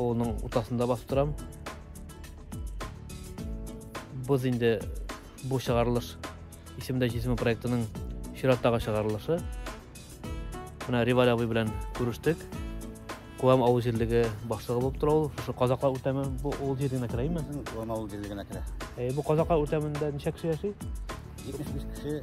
Оның утасында басып торам. Боз инде бу чыгарылыш исемдә җисеме проектының чираттагы чыгарылышы. Менә Риваль абый белән күрештек. Куам авыл җирлеге башлыгы булып тора ул. Шушы Казакла үртәме бу ул җиренә керә име? Куам авыл җирлегенә керә. Э, бу Казакла үртәмендә ничә кеше яши? 75 кеше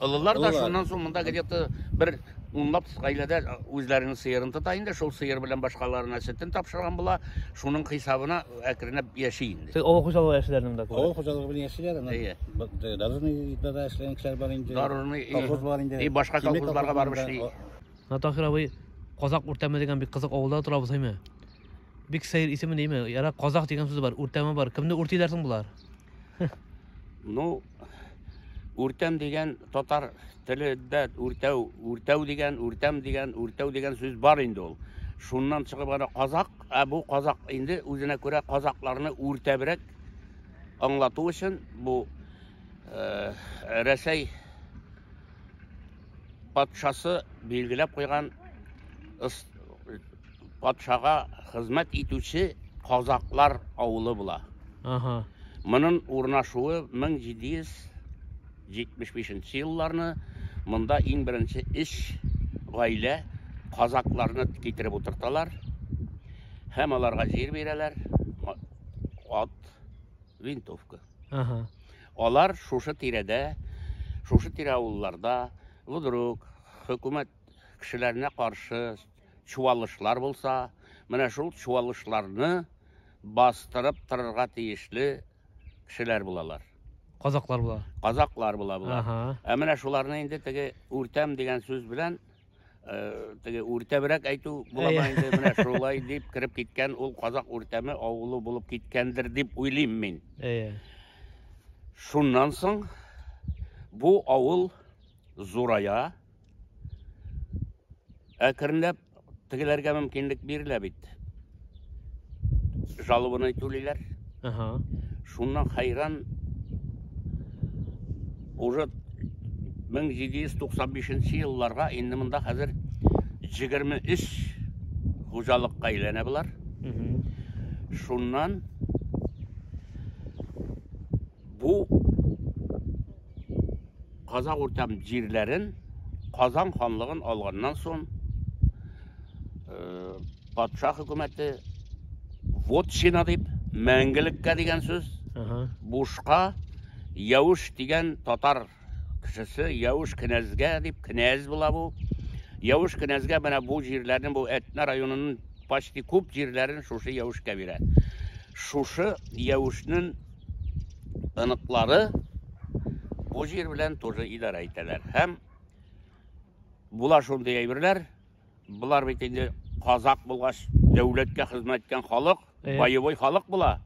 Олылар да шуннан соң монда где-то бер унлап гаиләдә үзләренең сыерын тота инде. Шул сыер белән башкаларына сөтен тапшырган була. Шуның хисабына әкренләп яши инде. Сез авыл хуҗалыгы эшләрен монда күрәсез. Авыл хуҗалыгы белән яшиләр. Әйе. Дорожный итмәдә эшләгән кешеләр бар инде. Дорожный колхоз бар инде. И башка колхозларга барып эшли. Натахир абый Казак үртәме дигән бик кызык авылда торабыз, әйме? Бик сәер исеме нәйме? Яра Казак дигән сүз бар, үртәме бар. Кемне үртиләр соң болар? Ну, үртәм дигән татар телендә үртәү, үртәү дигән, үртәм дигән, үртәү дигән сүз бар инде ул. Шуннан чыгып ана казак, ә бу казак инде үзенә күрә казакларны үртәбрәк аңлату өчен бу э, Рәсәй патшасы билгеләп куйган Патшага хезмәт итүче казакълар авылы була. Ага. Монын урнашуы 1775 нче елларны монда иң беренче эш гаилә казакъларны китереп утырталар һәм аларга җир бирәләр, ат, винтовка. Ага. Алар шушы тирәдә, шушы тирә авылларда, вдруг, хөкүмәт кешеләренә каршы чуалышлар булса, менә шул чуалышларны бастырып торырга тиешле кешеләр булалар. Казаклар була. Казаклар була була. Ага. Ә менә шуларны инде теге үртәм дигән сүз белән э, теге үртәбрәк әйтү буламы Әйе. инде менә шулай дип кереп киткән ул казак үртәме авылы булып киткәндер дип уйлыйм мин. Әйе. Шуннан соң бу авыл зурая, Әкренләп тегеләргә мөмкинлек бирелә бит. Жалованный түлиләр. Ага. Шуннан хайран уже 1795 елларга инде монда хәзер 23 хуҗалыкка әйләнә болар. Шуннан Бу Казак Уртам җирләрен Казан ханлыгын алганнан соң э, патша хөкүмәте вот сина дип мәңгелеккә дигән сүз бушка Явыш дигән татар кешесе Явыш кенәзгә дип кенәз була бу. Явыш кенәзгә менә бу җирләрне, бу Әтнә районының почти күп җирләрен шушы Явышка бирә. Шушы Явышның ыныклары бу җир белән тоже идарә итәләр. Һәм була шундый әйберләр, Болар бит инде казак булгач, дәүләткә хезмәт иткән халык, э. боевой халык була.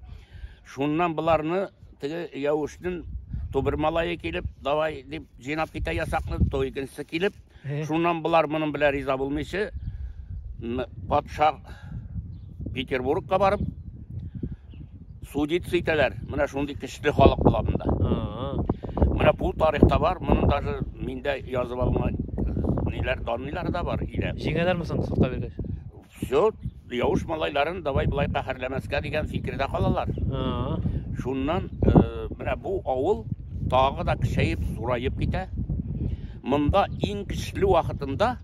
Шуннан боларны теге яушнын тубыр малае килеп, давай дип җыйнап китә ясакны, то икенчесе килеп, э. шуннан болар моның белән риза булмыйча, патша Петербургка барып, Судиться итәләр. Менә шундый көчле халык була монда. Менә бу тарихта бар, моны даже миндә язып алган ниләр данлар да бар илә. Җиңәләрме соң судка биргәч? Все, яуш малайларын давай былай каһәрләмәскә дигән фикердә калалар. Шуннан э, менә бу авыл тагы да кешәеп, зураеп китә. Монда иң көчле вакытында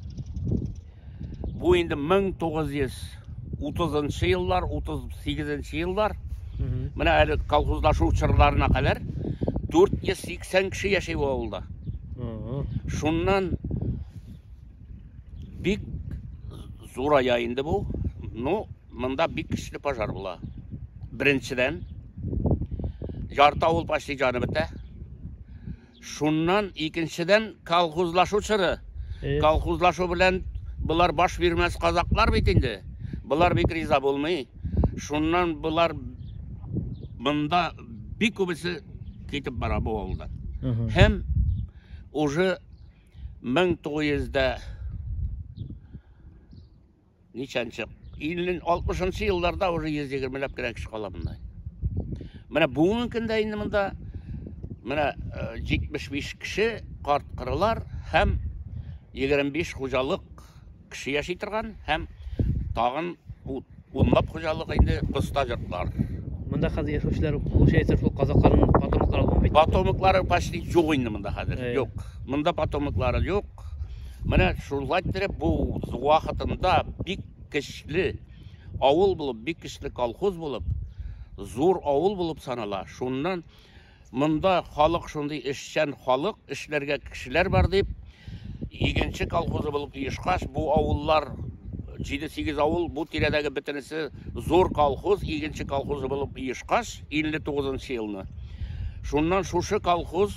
Бу инде 1930 еллар, 38 еллар. Менә әле колхозлашу чорларына кадәр 480 кеше яши бу авылда. Шуннан бик зурая инде бу. Ну, монда бик көчле пожар була. Беренчедән, ярты авыл почти җаны бетә. Шуннан икенчедән колхозлашу чоры. Э. Колхозлашу белән болар баш бирмәс казаклар бит инде. Болар бит риза булмый. Шуннан болар монда бик күбесе китеп бара бу авылдан. Һәм уже 1900 дә Ничәнче? 50-60 елларда уже 120 ләп кенә кеше кала монда. Менә бүгенге көндә инде монда менә 75 кеше карт кырылар һәм 25 хуҗалык кеше яши торган һәм тагын унлап хуҗалык инде кыста йортлар. Монда хәзер яшәүчеләр получается шул казакларның потомоклары бит. Потомоклары почти юк инде монда хәзер. Юк. Монда потомоклары юк. Менә шулай иттереп бу вакытында бик көчле авыл булып, бик көчле колхоз булып, зур авыл булып санала. Шуннан монда халык шундый эшчән халык, эшләргә кешеләр бар дип, игенче колхозы булып оешкач, бу авыллар 7-8 авыл, бу тирәдәге бөтенесе зур колхоз, игенче колхозы булып оешкач, 59 елны. Шуннан шушы колхоз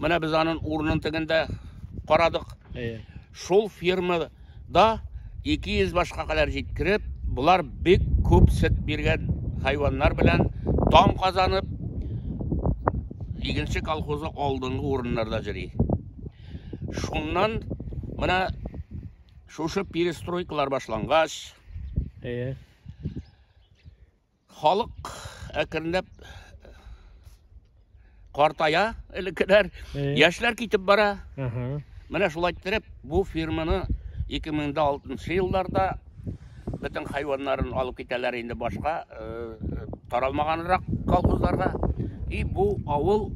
Менә без аның урынын тегендә карадык. Әйе. Шул фермада 200 башка кадәр җиткереп, булар бик күп сөт биргән хайваннар белән дан казанып, игенче колхозы алдынгы урыннарда җыри. Шуннан менә шушы перестройкалар башлангач, әйе. Халык әкренләп картая элеккеләр. Э. Яшьләр китеп бара. Менә шулай иттереп бу фирманы 2006 елларда бөтен хайваннарын алып китәләр инде башка э, таралмаганрак колхозларга. И бу авыл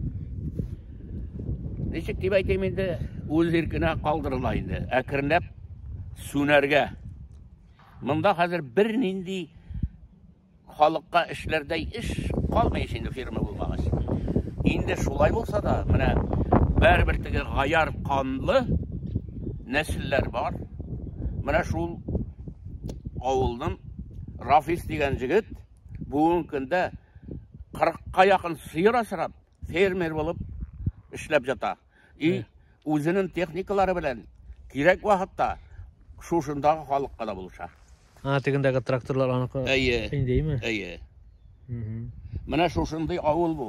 ничек дип әйтәм инде, үз иркенә калдырыла инде. Әкренләп сүнәргә Монда хәзер бернинди халыкка эшләрдәй эш калмый ич инде, фирма булмагач. Инде шулай булса да, менә бәрбер теге гаяр канлы нәселләр бар. Менә шул авылның Рафис дигән җегет бүгенге көндә 40ка якын сыер асрап, фермер булып эшләп ята. И үзенең техникалары белән кирәк вакытта шушындагы халыкка да булыша. А, тегендәге тракторлар аныкы. Әйе. Синдейме? Әйе. Менә шушындый авыл бу.